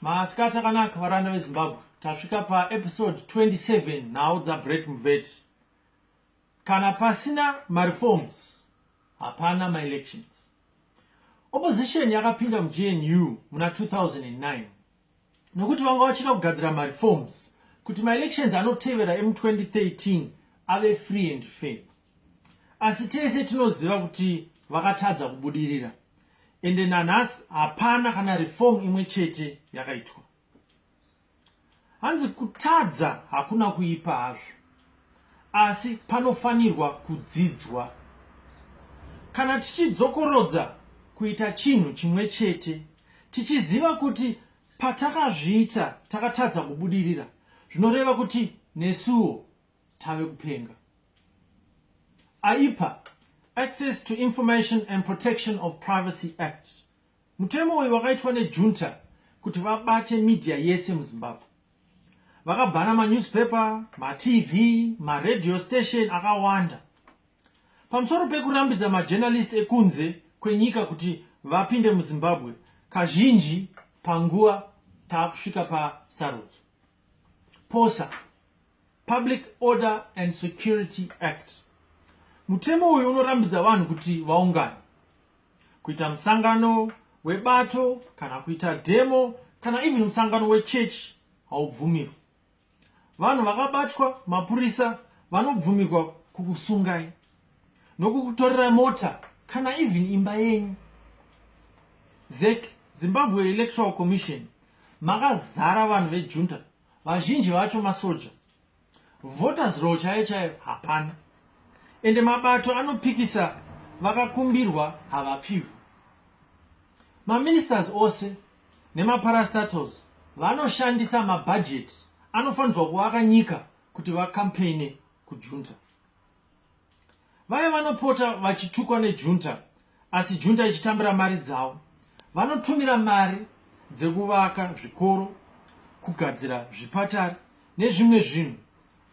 masikati akanaka varanda vezimbabwe tasvika paepisode 27 nhau dzabret muveti kana pasina mareforms hapana maelections opposition yakapinda mugnu muna 2009 nokuti vanga vachida kugadzira mareforms kuti maelections anotevera emu 2013 ave free and fair asi tese tinoziva kuti vakatadza kubudirira ende nanhasi hapana kana reform imwe chete yakaitwa hanzi kutadza hakuna kuipa hazvo asi panofanirwa kudzidzwa. Kana tichidzokorodza kuita chinhu chimwe chete, tichiziva kuti patakazviita takatadza kubudirira, zvinoreva kuti nesuwo tave kupenga. Aipa Access to Information and Protection of Privacy Act. Mutemo uyu wakaitwa nejunta kuti vabate media yese muZimbabwe. vakabhana manewspaper matv maradio station akawanda pamusoro pekurambidza majournalist ekunze kwenyika kuti vapinde muzimbabwe kazhinji panguva taakusvika pasarudzo posa public order and security act mutemo uyu unorambidza vanhu kuti vaungane kuita musangano webato kana kuita demo kana even musangano wechechi haubvumirwi vanhu vakabatwa mapurisa vanobvumirwa kukusungai nokukutorera mota kana even imba yenyu zek zimbabwe electoral commission makazara vanhu vejunta vazhinji vacho masoja voters row chaiyo chaiyo hapana ende mabato anopikisa vakakumbirwa havapiwi maministers ose nemaparastatals vanoshandisa mabhajeti anofanirwa kuvaka nyika kuti vakampeine kujunta vaya vanopota vachitukwa nejunta asi junta ichitambira mari dzavo vanotumira mari dzekuvaka zvikoro kugadzira zvipatari nezvimwe zvinhu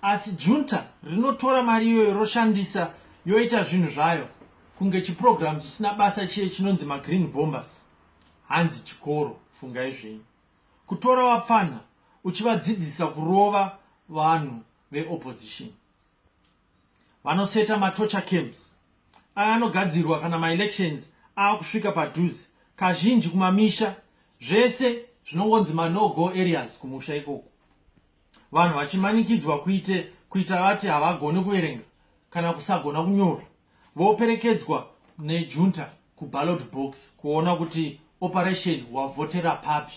asi junta rinotora mari iyoyo roshandisa yoita zvinhu zvayo kunge chiprogramu chisina basa chiye chinonzi magreen bombers hanzi chikoro fungai zvenyu kutora vapfanha uchivadzidzisa kurova vanhu veopposition vanoseta matocha camps aya anogadzirwa kana maelections aakusvika padhuze kazhinji kumamisha zvese zvinongonzi manogo areas kumusha ikoko vanhu vachimanikidzwa kuite kuita vati havagoni kuverenga kana kusagona kunyora voperekedzwa nejunta kuballot box kuona kuti operation wavhotera papi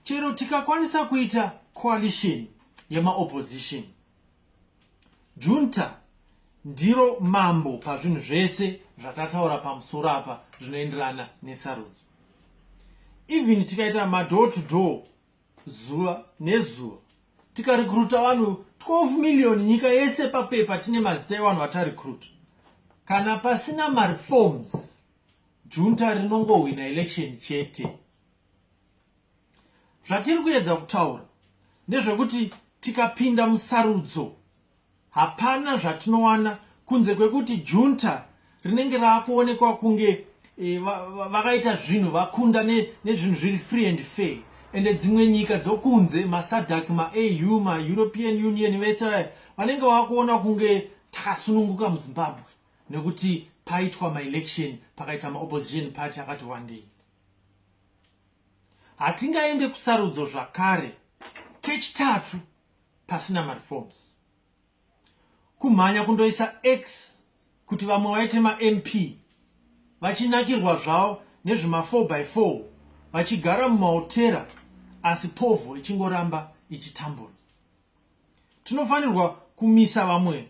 chero tikakwanisa kuita coalition yemaopposition junta ndiro mambo pazvinhu zvese zvatataura pamusoro apa zvinoenderana nesarudzo even tikaita madoor to door zuva nezuva tikarekruta vanhu 12 million nyika yese papepa tine mazita evanhu vatarekruta kana pasina mareforms Junta rinongohwina election chete. Zvatiri kuedza kutaura ndezvekuti tikapinda musarudzo hapana zvatinowana kunze kwekuti junta rinenge raakuonekwa kunge e, vakaita va, va zvinhu vakunda nezvinhu ne zviri free and fair ende dzimwe nyika dzokunze masadak maau maeuropean union vese vaya vanenge vakuona kunge takasununguka muzimbabwe nekuti paitwa maelection pakaita maopposition party akati wandei hatingaende kusarudzo zvakare kechitatu pasina mareforms kumhanya kundoisa x kuti vamwe vaite mamp vachinakirwa zvavo nezvema4 by 4 vachigara mumahotera asi povho ichingoramba ichitambura tinofanirwa kumisa vamwe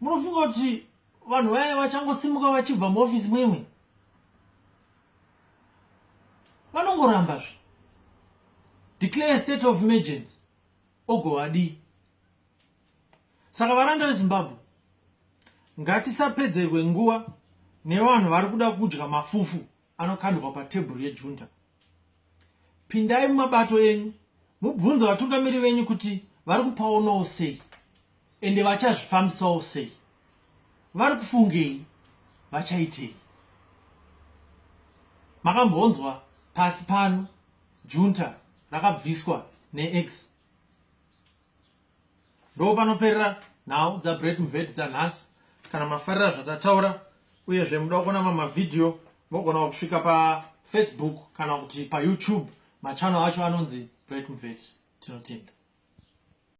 munofunga kuti vanhu vaya vachangosimuka vachibva muofisi mwemwe vanongoramba zve declare state of emergency ogovadii saka varanda vezimbabwe ngatisapedzerwe nguva nevanhu vari kuda kudya mafufu anokandwa patebhuru yejunta pindai mumabato enyu mubvunze vatungamiri venyu kuti vari kupaonawo sei ende vachazvifambisawo sei vari kufungei vachaitei makambonzwa pasi pano junta rakabviswa neex ndo panoperera nhau dzabreak mvedi dzanhasi kana mafarira zvatataura uyezve muda kuona mamwe mavhidhiyo mogona kusvika pafacebook kana kuti payoutube machannel acho anonzi break mvedi tinotenda